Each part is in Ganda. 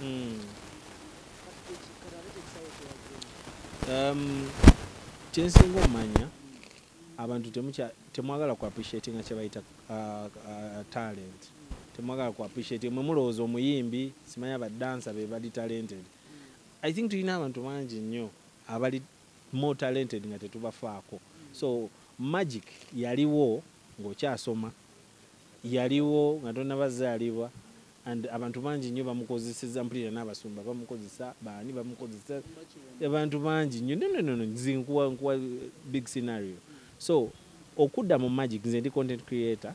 hmm. um, kyensinga omanya abantu temwagala ku appreciate nga kyebayita uh, uh, talent temwagala ku appreciate mwe mulowooza omuyimbi simanya badansa be bali talented i think tulina abantu bangi nnyo abali more talented nga tetubafaako so magic yaliwo ng'okyasoma yaliwo nga tonabazaalibwa and abantu bangi nnyo bamukozeseza mpulira n'abasumba bamukozesa baani bamukozesa abantu bangi nnyo nononono nkuwa big scenario so okudda mu magic nze ndi content creator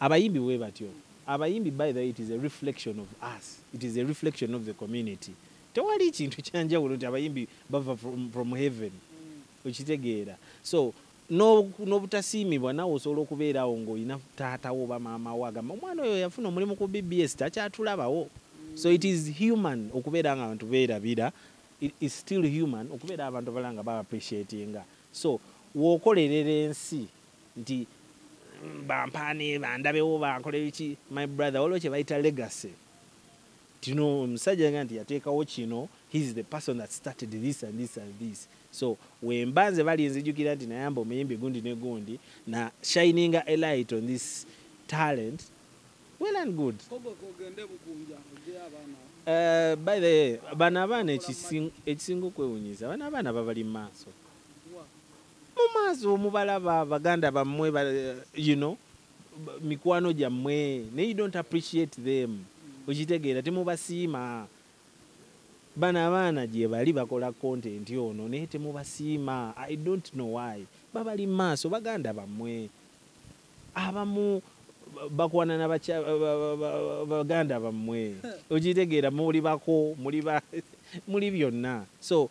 Abayimbi bwebatyo abayimbi by the way it is a reflection of us it is a reflection of the community tewali kintu kyanjawulo nti abayimbi bava from, from heaven okitegeera so n'obutasiimibwa nawe osobola okubeerawo ng'olina taata wo oba maama wo agamba omwana oyo yafuna omulimu ku bbs takyatulabawo so it is human okubeera nga abantu beerabira is still human okubeera abantu abala nga ba appreciatinga so wokolerera ensi nti bampaane bandabewo bankole biki my brother waliwo kyebayita legacy tino omusajja yaga nti yateekawo kino heis the person that started this and this and this so wemba nze bali nzijukira nti nayamba omuyimbi gundi ne gundi na shininga a light on this talent well and good uh, by the bano abaana ekisinga okwewunyiza bano abaana babali mu maaso mumaazi omubalaba baganda bamwe you know mikwano gyammwe naye you don't appreciate them okitegeera temubasiima bano abaana gyebali bakola content ono naye temubasiima i don't know why babali maaso baganda bammwe abamu bakwana na baganda bammwe okitegeera muli bako muli byonna so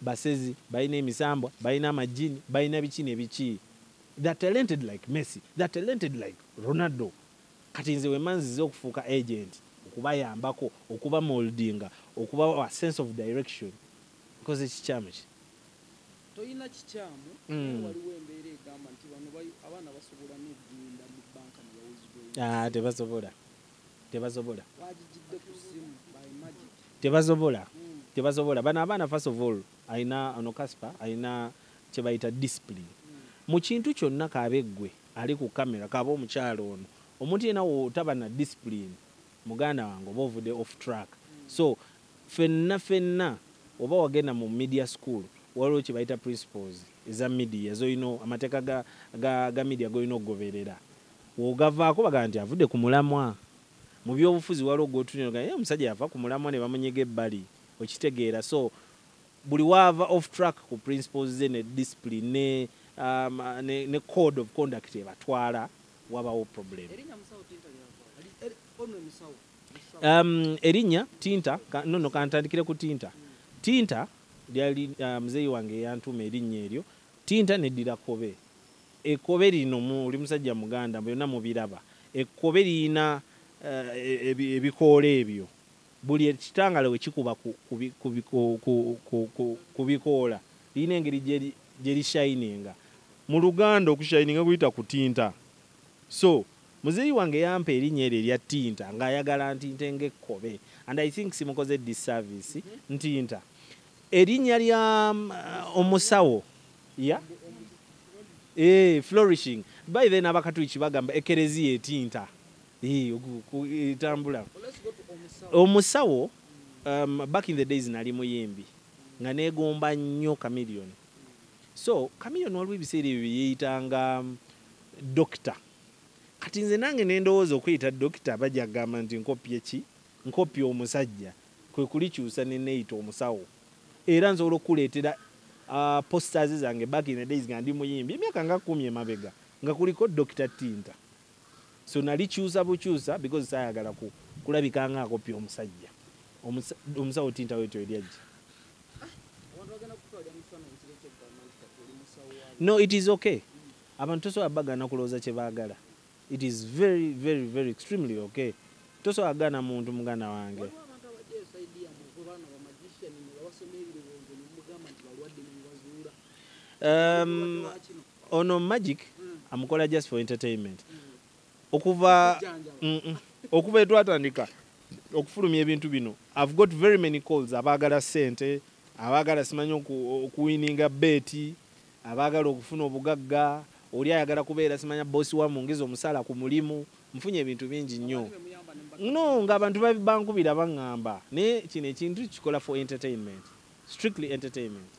Basezi, balina emisambwa, balina amajjini, balina biki ne biki. They are talented like Messi. They are talented like Ronaldo. Kati nze wemba nzize okufuuka agent, okubayambako, okubamoldinga, okubawa sense of direction, nkoze kikyamu ki? Tolina kikyamu, naye waliwo embeera egamba nti bano abaana basobola n'okugenda mu banka ne bawozibwa oluwozibwa. Haa, tebasobola. tebazobola tebazobola tebazobola bano abaana first of all alina ono kaspa alina kyebayita discipline mu kintu kyonna kaabe ggwe ali ku kamera kaaba omukyalo ono omuntu yena wotaba na discipline muganda wange oba ovude off track so fenna fenna oba wagenda mu media school waliwo kyebayita principles eza media zolina amateeka ga, ga, ga media golina okugoberera Wogavaako bagamba nti avudde ku mulamwa. Mu byobufuzi waliwo gwotunira ogamba eh omusajja yava ku mulamwa ne bamunyiga ebbali. Okitegeera so buli waava off track ku principles ze ne discipline ne um, ne, ne code of conduct ebatwala wabawo problem. Erinya musawo tinta lyava. Ali er, ono musawo. Um, erinya tinta ka, no no kantandikire ku tinta. Hmm. Tinta lyali uh, mzeyi wange yantuma erinya eryo. Tinta ne dira kobe. Ekkobe lino mu oli musajja muganda mbu byonna mubiraba. Ekkobe lirina eh, ebikoola ebyo buli ekitangala we kikuba ku bikoola lirina engeri gye lishayininga. Mu Luganda okushayininga kuyita kutinta. So muzeeyi wange yampa erinnya eryo erya tinta ng'ayagala ntinte ng'ekkobe and I think simukoze disservice ntinta. Erinnya lya um, omusawo ya eh, flourishing by then abakatuliki bagamba ekereziya etinta eh, etambula omusawo um, back in the days nali muyimbi nga negomba nnyo chameleon so chameleon waliwo ebiseera ebyo byeyeyitanga um, dokita kati nze nange nendowooza okuyita dokita bajja kugamba nti nkopyeki Nkoppye omusajja kwe kulikyusa ne neeyita omusawo era nsobola okukuleetera posters zange back in the days nga ndi muyimbi emyaka nga kkumi emabega nga kuliko Dokita Ttinta. So nalikyusa bukyusa because saayagala kulabika nga akoppye omusajja. Omusawo Ttinta Wetyo eri ajja. No, it is okay. Abantu tosobola bagaana kulowooza kye baagala. It is very very very extremely okay. Tosobola gana muntu muganda wange. Um, ono magic mm. amukola just for entertainment mm. okuva mm, mm. okuva etwatandika okufulumya ebintu bino i've got very many calls abaagala sente abaagala simanyi okuwininga beeti Abaagala okufuna obugagga, oli ayagala kubeera simanya boss wa mungezi omusaala ku mulimu, nfunye ebintu bingi nnyo no nga abantu bankubira bangamba naye kino ekintu tukikola for entertainment strictly entertainment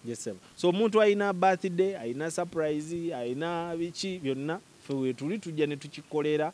yes sebo so omuntu alina birthday alina surprise alina biki byonna fe wetuli tujja ne tukikolera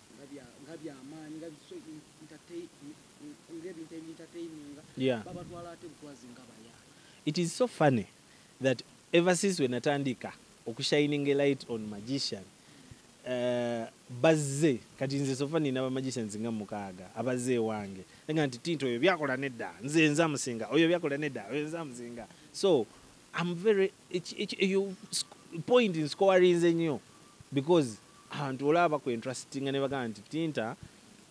nga byamaanyi nga ebintu ebintateininga babatwala ate bukwazi nga baya it is so funny that ever since wenatandika okushining a light on magician Eh, bazze kati nze sofa nina bamagicians nga mukaaga abazze ewange nga nti tinti oyo byakola nedda nze nza musinga oyo byakola nedda oyo nza musinga so am very point nscowarinze nnyo because abantu olaba bakwentrasitinga ne bagamba nti tinta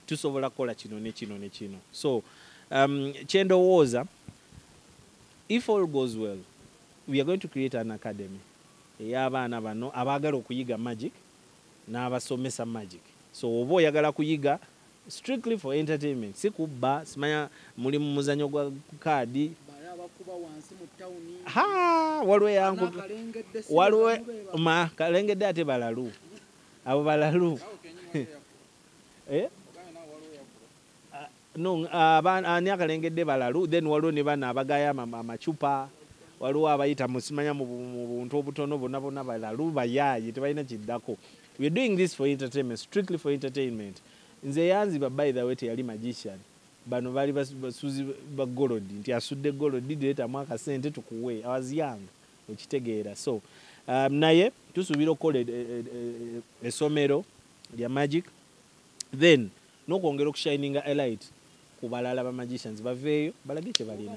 tusobola kukola kino ne kino ne kino so um, kyendowooza if all goes well we are going to create an academy ey'abaana bano abaagala okuyiga magic n'abasomesa magic so oba oyagala kuyiga Strictly for entertainment si kubba simanya muli mu muzanyo gwa kaadi waliwo yanku waliwo ma kalengedde ate balalu abo balalu eh? no ani akalengedde balalu then waliwo ne bana abagaya amacupa waliwo abayita musimanya mu buntu obutono bona bona balalu bayaye tebalina kiddako we are doing this for entertainment strictly for entertainment nze eyanziba by the way teyali magician bano baali basuzi ba golodi nti asudde golodi diretamu akasente tukuwe was young okitegeera so um, naye tusuubira okukola esomero e, e, e, lya magic then nokwongera oku shininga a light ku balala ba magicians baveeyo balage kyebalina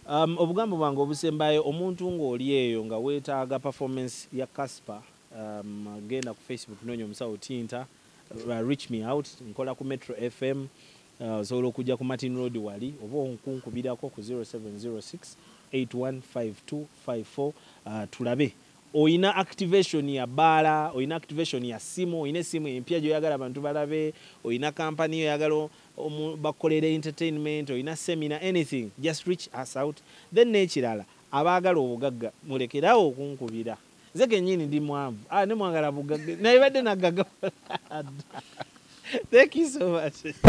um, obugambo bwange obusembayo omuntu ng'oli eyo nga weetaaga performance ya casper um, genda ku facebook noonya omusawo tinta uh, reach me out nkola ku metro fm uh, osobola okujja ku martin road wali oba onkunkubirako ku 0706 815254 uh, tulabe oyina activation ya baala oyina activation ya simu oyina esimu empya gyoyagala abantu balabe oyina kampani oyagala bakukolera entertainment oyina semina anything just reach us out then nekirala abaagala obugagga mulekerawo okunkubira nze kenyini ndi mwavu ah, ne mwagala bugagga naye badde naggaga thank you so much